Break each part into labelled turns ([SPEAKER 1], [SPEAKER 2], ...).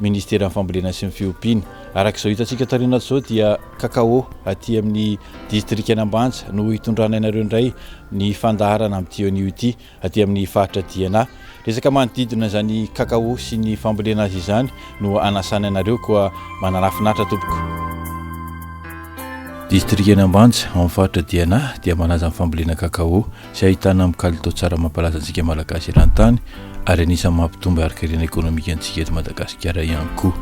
[SPEAKER 1] Ministeran'ny Fambolena sy ny Fiompiana. Araka izao hitantsika taoriana ato izao dia cacao aty amin'ny distrikan'Ambanja no hitondrana anareo indray ny fandaharana amin'ity anio ity aty amin'ny faritra Diana. Resaka manodidina izany cacao sy ny fambolena azy izany no anasana anareo koa mananafinaritra tompoko. Distrikan'Ambanja ao amin'ny faritra Diana dia manaja ny fambolena cacao. izay ahitana amin'ny kalitao tsara mampalaza antsika Malagasy eran-tany ary anisan'ny mampitombo harin-karena ekonomika antsika eto Madagasikara ihany koa.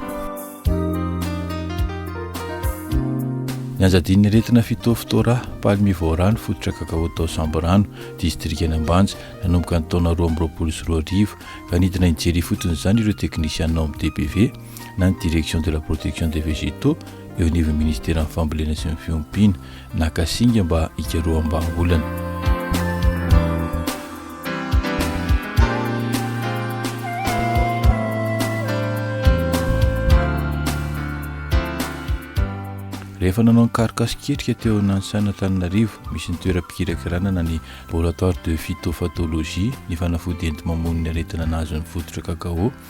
[SPEAKER 1] Ny anjadian'ny aretina Phytophthora palmivora ny fototra kakaô tao Sambirano, distrikan'i Ambanja, nanomboka ny taona roa amby roapolo sy roa arivo, ka nidina hijery ifotony izany ireo teknisianina ao amin'ny DPV, na ny Direction de la protection des végétaux, eo anivon'ny Minisiteran'ny Fambolena sy ny Fiompiana. Naka singa mba hikaroham-bahaolana. Rehefa nanao ny karoka sy ketrika teo Nansana Antananarivo, misy ny toeram-pikirakiranana ny Laboratoire de Phytophathologie, ny fanafody enti-mamono ny aretina nahazo ny fototra cacao,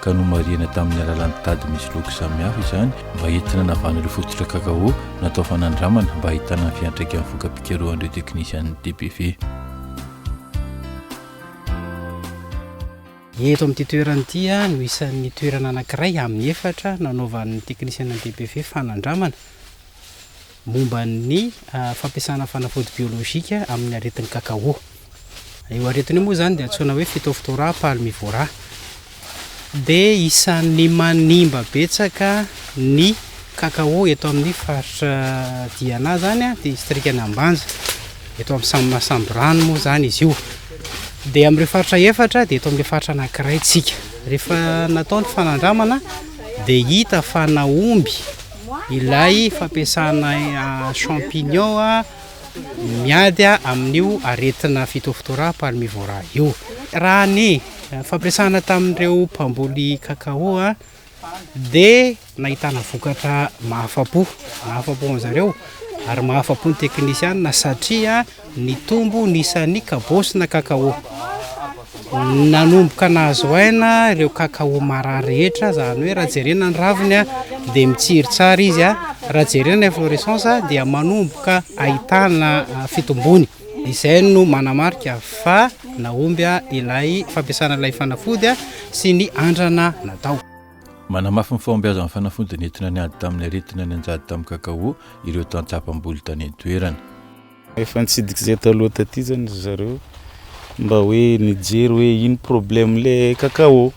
[SPEAKER 1] ka nomarihana tamin'ny alalan'ny tady misy loko samihafa izany mba entina anavahana ireo fototra kakao natao fanandramana mba hahitana ny fiantraikan'ny voka-pikarohan'ireo teknisian'ny DPV. Eto
[SPEAKER 2] amin'ity toerana ity no isan'ny toerana anankiray amin'ny efatra nanaovan'ny teknisian'ny DPV fanandramana momba ny fampiasana fanafody biolojika amin'ny aretin'ny kakaô. Io aretina io moa izany dia antsoina hoe Phytophthora palmivora. Dia isan'ny manimba betsaka ny kakaô eto amin'ny faritra Diana izany, distrikan'i Ambanja. Eto amin'ny samy Masamborano moa izany izy io. Dia amin'ireo faritra efatra dia eto amin'ilay faritra anankiray isika. Rehefa natao ny fanandramana dia hita fa nahomby Ilay fampiasana champignon miady amin'io aretina phytophthora palmivora io. Raha ny fampiasana tamin'ireo mpamboly cacao dia nahitana vokatra mahafa-po, mahafa-po an'izareo ary mahafa-po ny teknisiana satria. Nitombo ny isan'ny kabaosina kakaô. Nanomboka nahazo aina ireo kakaô marary rehetra, izany hoe raha jerena ny raviny dia mitsiry tsara izy, raha jerena inflorescence dia manomboka ahitana fitombony. Izay no manamarika fa nahomby ilay fampiasana ilay fanafody sy ny andrana natao. Manamafy ny
[SPEAKER 1] fahombiazan'ny fanafody nentina niady tamin'ny aretina nianjady tamin'ny kakaô ireo tantsaha mpamboly tany an-toerana. Efa
[SPEAKER 3] nitsidika izay taloha taty zany ry zareo mba hoe nijery hoe ino problème le cacao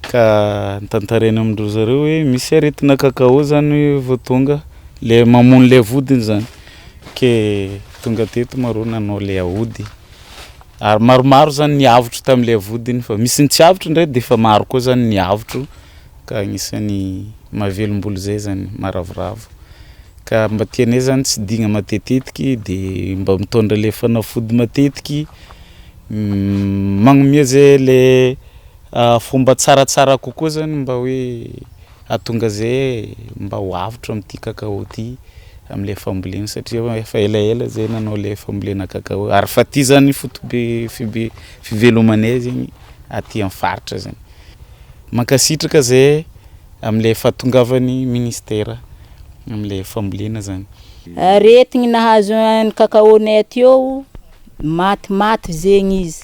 [SPEAKER 3] ka notantaraina amin-dry zareo hoe misy aretina cacao zany vao tonga le mamono le vodiny zany ke tonga teto ma rô nanao le aody ary maromaro zany ny avotro tamin'le vodiny fa misy ny tsy avotro ndray de efa maro koa zany ny avotro ka agnisan'ny mahavelom-bolo zay zany maharavoravo. Ka mba tianay zany tsy digna matetetiky de mba mitondra le fanafody matetiky magnomea ze le fomba tsaratsara kokoa zany mba hoe ahatonga ze mba ho avotra amty cacao ty amle fambolena satria hoe efa elaela zay nanao le fambolena cacao ary fa ty zany fotobe fibe fivelomanay zegny aty am faritra zegny mankasitraka ze. Amin'ilay fahatongavan'ny Ministera amin'ilay fambolena zany. Aretigny
[SPEAKER 4] nahazo an'i Kakaonay aty ô, maty maty zegny izy,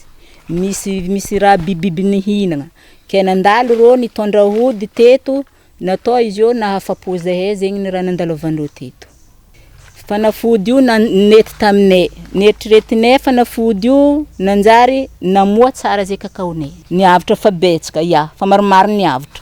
[SPEAKER 4] misy misy raha bibibiby nihinagna, kay nandalo rô nitondra ody teto, natao izy ô nahafapo zahay zegny ny raha nandalovan'ireo teto, fanafody io na- nety taminay, neritreretinay fanafody io nanjary namoa tsara zay kakaonay, ny avotra fa betsaka, ya fa maromaro ny avotra.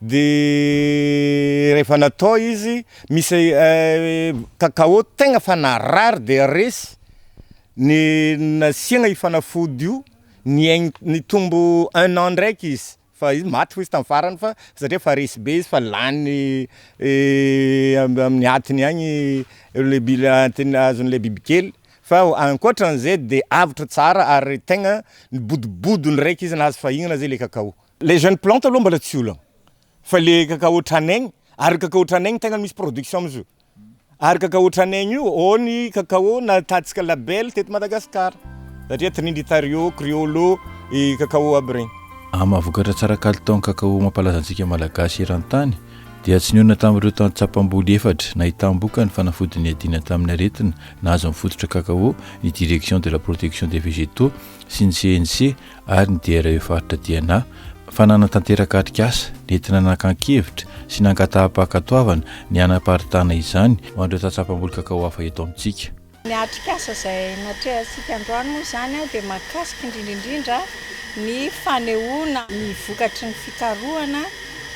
[SPEAKER 5] Dia rehefa natao izy, misy cacao tegna efa narary dia resy, ny nasiagna io fanafody io, niaigny, nitombo un an ndraiky izy, fa izy maty hoy izy tamin'ny farany fa satria efa resy be izy fa lany am- amin'ny atiny agny le bi- le atiny azon'le bibikely, fa ankoatran'izay de avotra tsara ary tegna nibodobodo ndraiky izy nahazo fahinana zay le cacao. Les jeunes plantes aloha mbola tsy olana fa le cacao tranaigny ary cacao tranaigny tegna misy production amzio ary cacao tranaigny io ô ny cacao natahatsika label teto Madagascar satria trinitario, criollo, i cacao aby regny. Amin'ny maha vokatra tsara
[SPEAKER 1] kalitao ny cacao mampalaza antsika Malagasy eran-tany dia tsy nionona tamin'ireo tany tsapam-boly efatra nahitam-boka ny fanafody niadiana tamin'ny aretina nahazo ny fototra cacao ny Direction de la Protection des Végétaux sy ny CNC ary ny DRE faritra DNA fa nanatanteraka atrikasa nentina nakan-kevitra sy nangataham-pankatoavana ny hanaparitahana izany ho an'ireo tsatsapamboly kakao hafa eto amintsika. Ny atrikasa
[SPEAKER 6] izay natrehantsika androany moa izany dia mahakasika indrindra indrindra ny fanehoana ny vokatry ny fikarohana,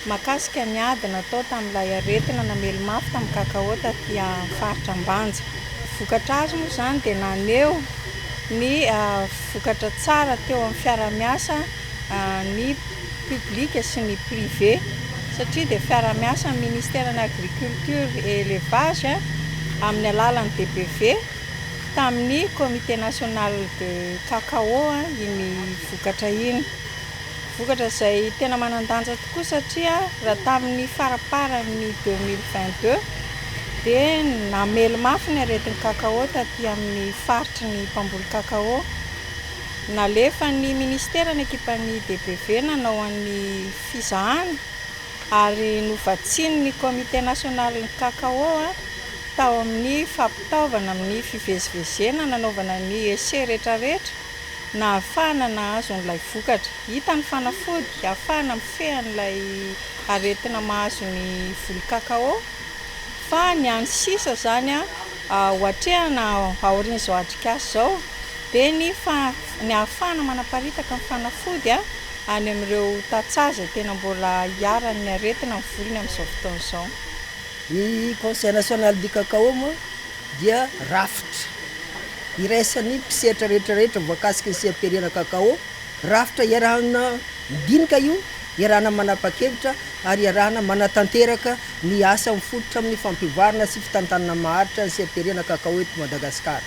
[SPEAKER 6] Mahakasika ny ady natao tamin'ilay aretina namely mafy tamin'ny kakaô taty amin'ny faritra Ambanja. Vokatra azo moa izany dia naneho ny vokatra tsara teo amin'ny fiarahamiasa ny public sy ny privé satria dia fiarahamiasa amin'ny ministeran'ny agriculture et elevage amin'ny alalan'ny DBV tamin'ny comité national de cacao iny vokatra iny. Vokatra izay tena manan-danja tokoa satria raha tamin'ny faramparan'ny deux mille vingt deux dia namely mafy ny aretin'ny cacao taty amin'ny faritry ny mpamboly cacao. Nalefan'ny minisitera ny ekipan'ny DBV nanao an'ny fizahana ary novatsian'ny Comité national ny cacao tao amin'ny fampitaovana amin'ny fivezivezena nanaovana ny essais rehetrarehetra. nahafahana nahazo an'ilay vokatra. Hita ny fanafody hahafahana mifehy an'ilay aretina mahazo ny voly cacao, fa ny an'ny sisa izany ho atrehina aorian'izao atrikasa izao dia ny ny hahafahana manaparitaka ny fanafody any amin'ireo tantsaha izay tena mbola iharan'ny aretina ny volony amin'izao fotoana izao. Ny
[SPEAKER 7] Conseil National du Cacao moa dia rafitra. Iraisan'ny mpisetra rehetra rehetra voakasika ny seha-pirenana Kakao, rafitra iarahana midinika io, iarahana manapa-kevitra ary iarahana manatanteraka ny asa mifototra amin'ny fampivoarana sy fitantanana maharitra ny seha-pirenana Kakao eto Madagasikara.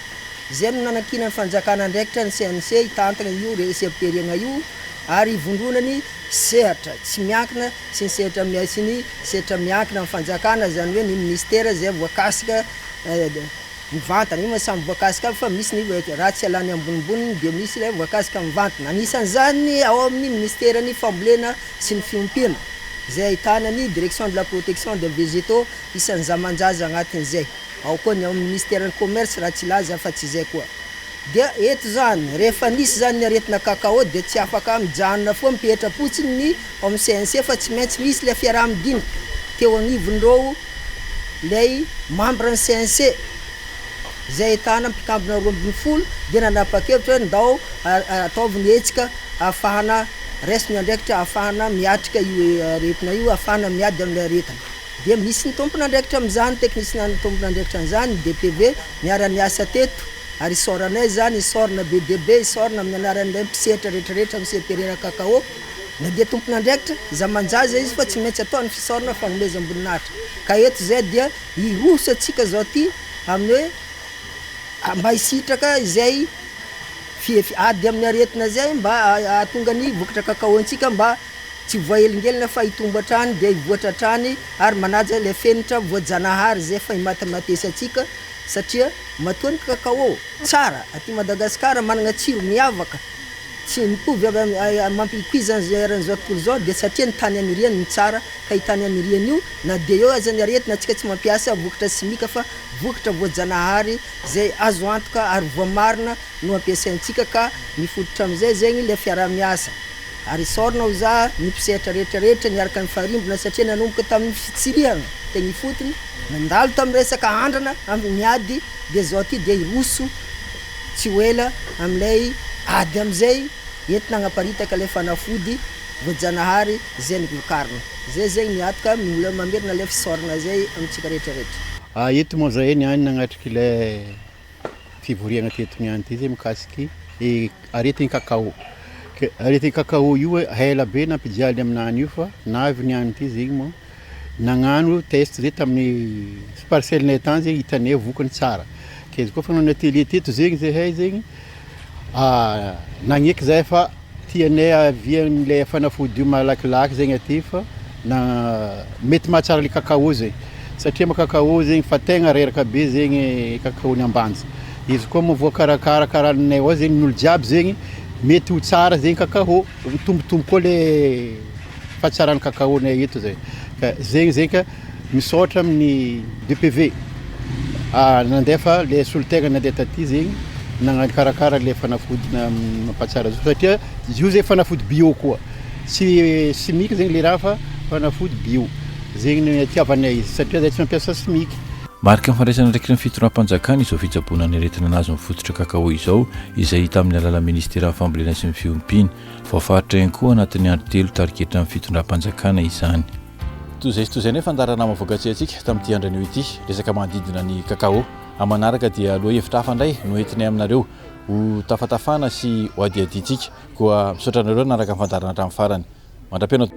[SPEAKER 7] Izay no nanankinan'ny fanjakana andraikitra ny CNC hitantana io seha-pirenana io ary hivondrona ny sehatra tsy miankina sy ny sehatra sy ny sehatra miankina amin'ny fanjakana, izany hoe ny minisitera izay voakasika. Mivantana, io moa samy voankazo kamo fa misy ny ratsy alany ambonimboniny dia misy ilay voankazo ka mivantana. Anisan'izany ny ao amin'ny Minisiteran'ny fambolena sy ny fiompiana izay ahitana ny Direction de la protection des végétaux isan'ny zaman-jaza agnatin'izay. Ao koa ny ao amin'ny Minisiteran'ny Commerce raha tsy laza afa tsy izay koa. Dia eto izany, rehefa nisy izany ny aretina cacao dia tsy afaka mijanona foana mipetra-potsiny ny ao amin'ny CNC fa tsy maintsy misy ilay fiaraha-midinika teo agnivon'ireo Ilay membre ny CNC, izay ahitana mpikambona roa ambin'ny folo dia nanapa-kevitra hoe ndao ataovy ny hetsika ahafahana, raiso ny andraikitra ahafahana miatrika io aretina io, ahafahana miady amin'ilay aretina. Dia misy ny tompon'andraikitra amin'izany, teknisiana tompon'andraikitra an'izany, ny DPV niara-niasa teto ary isaoranay izany, isaorana be dia be, isaorana amin'ny anaran'ilay mpisehatra rehetrarehetra amin'ny CPRR Cacao. Na dia tompon'andraikitra zamanjaza izy fa tsy maintsy atao ny fisaorana fanomezam-boninahitra. Ka eto izay dia hiroso antsika izao ity amin'ny hoe mba hisitraka izay ady amin'ny aretina izay mba hahatonga ny vokatra kakaontsika mba tsy voahelingelina fa hitombo hatrany dia hivoatra hatrany ary manaja ilay fenitra voajanahary izay efa himatematesy antsika satria matoa ny kakao tsara aty Madagasikara manana tsiro miavaka Tsy mitovy amin'ny mampipoizana izao eran'izao tontolo izao dia satria ny tany aniriany no tsara ka io tany aniriany io na dia eo aza ny aretina antsika tsy mampiasa vokatra simika fa vokatra voajanahary izay azo antoka ary voamarina no ampiasaintsika ka mifototra amin'izay zegny ilay fiaraha-miasa ary isaorana ho za ny mpisehatra rehetra rehetra niaraka nifarimbona satria nanomboka tamin'ny fitsirihana teny ifotony nandalo tamin'ny resaka andrana amin'ny ady dia izao ty dia hiroso Tsy ho ela amin'ilay ady amin'izay entina hagnaparitaka ilay fanafody voajanahary zen glucarne. Zay zegny miatoka mbola mamerina ilay fisaoragna zay amintsika rehetra rehetra. A eto moa zahay niany
[SPEAKER 8] nagnatrika ilay fivoriagna teto niany ty zay mikasiky i aretigny cacao. Ke aretigny cacao io ela be nampijaly aminany io fa navy niany ty zegny moa. Nagnano test zay tamin'ny parcelle-nay tany zay hitanay ny vokany tsara. Ke izy kôfa nanao tele teto zegny zahay zegny, nagneky zahay fa tianay avia an'ilay fanafody io malakilaky zegny aty fa na mety mahatsara le cacao zay. Satria mo cacao zegny fa tegna reraka be zegny cacao-n'i Ambanja. Izy koa moa voakarakara karahan'nay ao zegny, n'olo jiaby zegny mety ho tsara zegny cacao, mitombotombo koa le. Fa tsara ny cacao nay eto zay. Ka zegny zegny ka misaotra amin'ny DPV nandefa le solotegna nandeha taty zegny nagnakarakara le fanafody mampatsara zo satria zio zay fanafody bio koa tsy simika zegny le raha fa fanafody bio zegny no itiavanay izy satria zay tsy mampiasa simika. Mariky ny fandraisana
[SPEAKER 1] andraikitry ny Fitondram-panjakana izao fitsaboana ny aretina nahazo ny fototra cacao izao izay hita amin'ny alalan'ny Ministeran'ny Fambolena sy ny Fiompiana. Voafaritra ihany koa anatin'ny andro telo tariketry ny fitondram-panjakana izany. Toy izay sy toy izay ny fandaharanama voakatsehantsika tamin'ity andro anio ity, resaka manodidina ny Kakao. Amin'ny manaraka dia lohahevitra hafa indray no entinay aminareo ho tafatafana sy ho adihadiantsika. Koa misaotra anareo nanaraka ny fandaharana hatramin'ny farany. Mandra-pihaona.